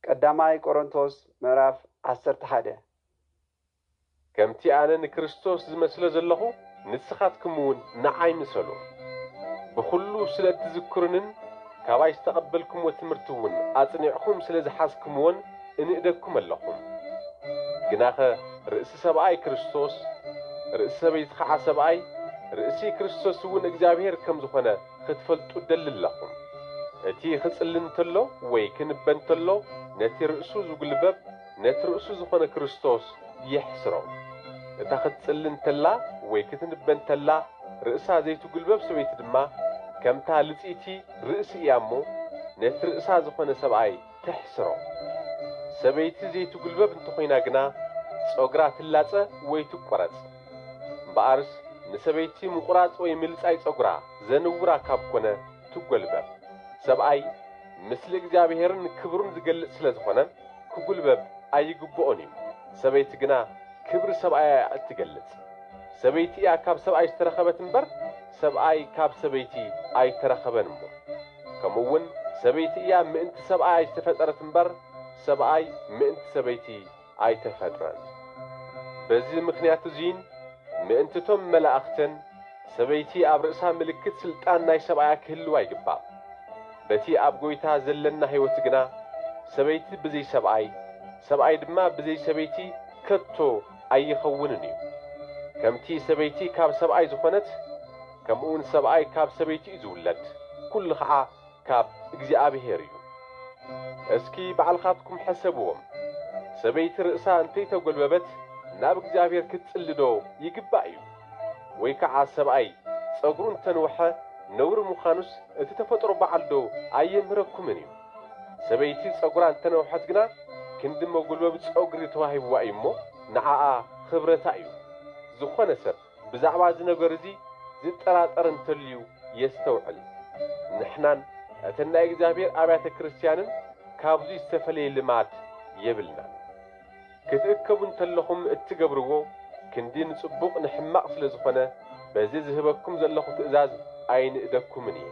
ቀዳማይ ቆሮንቶስ ምዕራፍ ዓሰርተ ሓደ። ከምቲ ኣነ ንክርስቶስ ዝመስሎ ዘለኹ ንስኻትኩምውን ንዓይ ምሰሉ። ብዅሉ ስለ እትዝክሩንን ካባይ ዝተቐበልኩምዎ ትምህርቲ እውን ኣጽኒዕኩም ስለ ዝሓዝኩምዎን እንእደኩም ኣለኹ። ግናኸ ርእሲ ሰብኣይ ክርስቶስ፣ ርእሲ ሰበይቲ ኸዓ ሰብኣይ፣ ርእሲ ክርስቶስ እውን እግዚኣብሄር ከም ዝኾነ፣ ክትፈልጡ እደሊ ኣለኹም። እቲ ኺጽሊ እንተሎ ወይ ኪንበ እንተሎ፣ ነቲ ርእሱ ዚጕልበብ፣ ነቲ ርእሱ ዝዀነ ክርስቶስ የሕስሮ። እታ ኽትጽሊ እንተላ ወይ ክትንበ እንተላ፣ ርእሳ ዘይትጕልበብ ሰበይቲ ድማ፣ ከምታ ልጽይቲ ርእሲ እያ እሞ፣ ነቲ ርእሳ ዝዀነ ሰብኣይ ተሕስሮ። ሰበይቲ ዘይትጕልበብ እንተ ዀይና ግና፣ ጸጕራ ትላጸ ወይ ትቈረጽ። እምበኣርስ ንሰበይቲ ምቝራጽ ወይ ምልጻይ ጸጕራ ዘንውራ ካብ ኮነ ትጐልበብ። ሰብኣይ ምስሊ እግዚኣብሔርን ክብሩን ዝገልጽ ስለ ዝኾነ ክጕልበብ ኣይግብኦን እዩ። ሰበይቲ ግና ክብሪ ሰብኣያ እያ እትገልጽ። ሰበይቲ እያ ካብ ሰብኣይ ዝተረኸበት እምበር ሰብኣይ ካብ ሰበይቲ ኣይተረኸበን እሞ። ከምኡውን ሰበይቲ እያ ምእንቲ ሰብኣያ ዝተፈጠረት እምበር ሰብኣይ ምእንቲ ሰበይቲ ኣይተፈጥረን። በዚ ምኽንያት እዙይን ምእንቲ እቶም መላእኽትን፣ ሰበይቲ ኣብ ርእሳ ምልክት ሥልጣን ናይ ሰብኣያ ኪህልዋ ይግባእ። በቲ ኣብ ጐይታ ዘለና ሕይወት ግና፣ ሰበይቲ ብዘይ ሰብኣይ፣ ሰብኣይ ድማ ብዘይ ሰበይቲ ከቶ ኣይኸውንን እዩ። ከምቲ ሰበይቲ ካብ ሰብኣይ ዝኾነት፣ ከምኡውን ሰብኣይ ካብ ሰበይቲ እዩ ዝውለድ፣ ኵሉ ኸዓ፣ ካብ እግዚኣብሔር እዩ። እስኪ ባዕልኻትኩም ሕሰብዎም፣ ሰበይቲ ርእሳ እንተይተጎልበበት ናብ እግዚኣብሔር ክትጽሊ ዶ ይግባእ እዩ? ወይ ከዓ ሰብኣይ ጸጉሩ እንተንውሐ ነውሪ ምዃኑስ እቲ ተፈጥሮ ባዕሉ ዶ ኣየምህረኩምን እዩ? ሰበይቲ ጸጉራ እንተነውሐት ግና ክንዲ መጎልበቢ ጸጉሪ ተዋሂብዋ እዩ እሞ ንዓኣ ኽብረታ እዩ። ዝኾነ ሰብ ብዛዕባ እዚ ነገር እዚ ዚጠራጠር እንተልዩ የስተውዕል። ንሕናን እተን ናይ እግዚኣብሔር ኣብያተ ክርስትያንን ካብዙይ ዝተፈለየ ልማድ የብልናን። ክትእከቡ እንተለኹም እትገብርዎ ክንዲ ንጽቡቕ ንሕማቕ ስለ ዝኾነ በዚ ዝህበኩም ዘለኹ ትእዛዝ ኣይንእደኩምን እየ።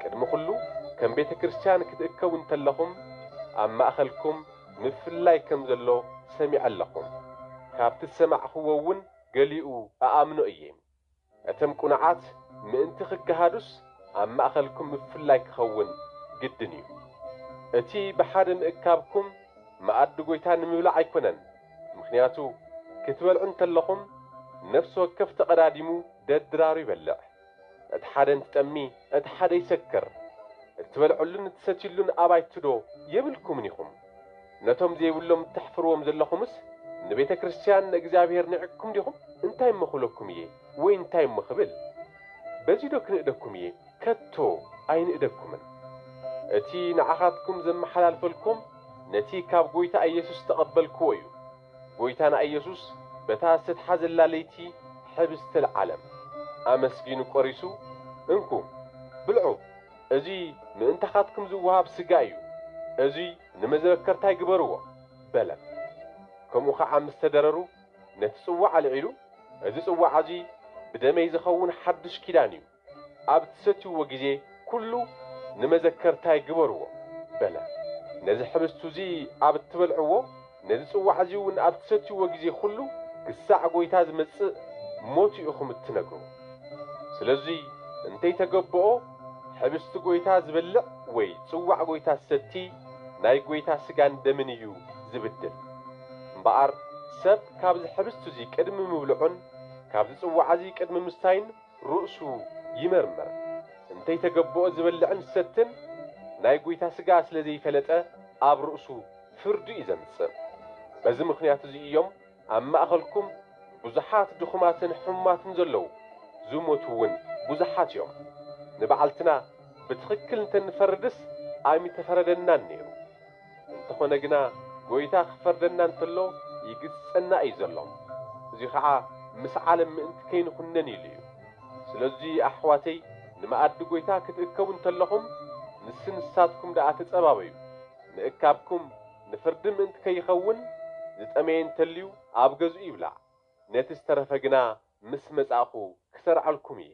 ቅድሚ ኩሉ ከም ቤተ ክርስትያን ክትእከቡ እንተለኹም ኣብ ማእኸልኩም ምፍልላይ ከም ዘሎ ሰሚዐ ኣለኹም ካብቲ ዝሰማዕኽዎ እውን ገሊኡ እኣምኖ እየ። እተም ቁኑዓት ምእንቲ ክገሃዱስ ኣብ ማእኸልኩም ምፍላይ ክኸውን ግድን እዩ። እቲ ብሓደ ምእካብኩም መኣዲ ጎይታ ንምብላዕ ኣይኮነን፣ ምኽንያቱ ክትበልዑ እንተለኹም ነፍሲ ወከፍ ተቐዳዲሙ ደድራሩ ይበልዕ። እቲ ሓደ እንትጠሚ እቲ ሓደ ይሰክር እትበልዕሉን እትሰትዩሉን ኣባይቲ ዶ የብልኩምን ኢኹም ነቶም ዘይብሎም እተሕፍርዎም ዘለኹምስ ንቤተ ክርስትያን ንእግዚኣብሔር ኒዕቅኩም ዲኹም እንታይ እሞ ክብለኩም እየ ወይ እንታይ እሞ ክብል በዚ ዶ ክንእደኩም እየ ከቶ ኣይንእደኩምን እቲ ንዓኻትኩም ዘመሓላልፈልኩም ነቲ ካብ ጎይታ ኢየሱስ ዝተቐበልክዎ እዩ። ጎይታና ኢየሱስ በታ ዝተትሓዘላ ለይቲ ኅብስቲ ለዓለም ኣመስጊኑ ቆሪሱ እንኩ ብልዑ እዙይ ምእንታኻትኩም ዝወሃብ ሥጋይ እዩ እዙይ ንመዘበከርታይ ግበርዎ በለም ከምኡ ኸዓ ምስ ተደረሩ ነቲ ጽዋዕ ኣልዒሉ እዚ ጽዋዕ እዙይ ብደመይ ዝኸውን ሓዱሽ ኪዳን እዩ ኣብ እትሰትይዎ ጊዜ ኵሉ ንመዘከርታይ ግበርዎ በለ። ነዚ ኅብስት እዚ ኣብ እትበልዕዎ፣ ነዚ ጽዋዕ እዚውን ኣብ እትሰትይዎ ጊዜ ኵሉ ክሳዕ ጐይታ ዚመጽእ ሞቱ ኢኹም እትነግሩ። ስለዙይ እንተይተገበኦ ኅብስት ጐይታ ዚበልዕ ወይ ጽዋዕ ጐይታ ዚሰቲ ናይ ጐይታ ሥጋን ደምን እዩ ዚብድል። እምበኣር ሰብ ካብዚ ኅብስት እዙይ ቅድሚ ምብልዑን ካብዚ ጽዋዕ እዚ ቅድሚ ምስታዩን ርእሱ ይመርምር እንተይተገብኦ ዝበልዕን ዝሰትን ናይ ጉይታ ስጋ ስለ ዘይፈለጠ ኣብ ርእሱ ፍርዲ እዩ ዘምጽእ በዚ ምኽንያት እዚ እዮም ኣብ ማእኸልኩም ብዙሓት ድኹማትን ሕሙማትን ዘለዉ ዝሞቱ እውን ብዙሓት እዮም ንባዕልትና ብትኽክል እንተንፈርድስ ኣይምተፈረደናን ነይሩ እንተኾነ ግና ጎይታ ክፈርደና እንተሎ ይግስጸና እዩ ዘሎ እዚ ኸኣ ምስ ዓለም ምእንቲ ከይንኹነን ኢሉ እዩ ስለዚ ኣሕዋተይ ንመኣዲ ጎይታ ክትእከቡ እንተለኹም ንስ ንሳትኩም ደኣ ተጸባበዩ ምእካብኩም ንፍርዲ ምእንቲ ከይኸውን ዝጠመየ እንተልዩ ኣብ ገዝኡ ይብላዕ ነቲ ዝተረፈ ግና ምስ መጻእኹ ክሰርዐልኩም እየ።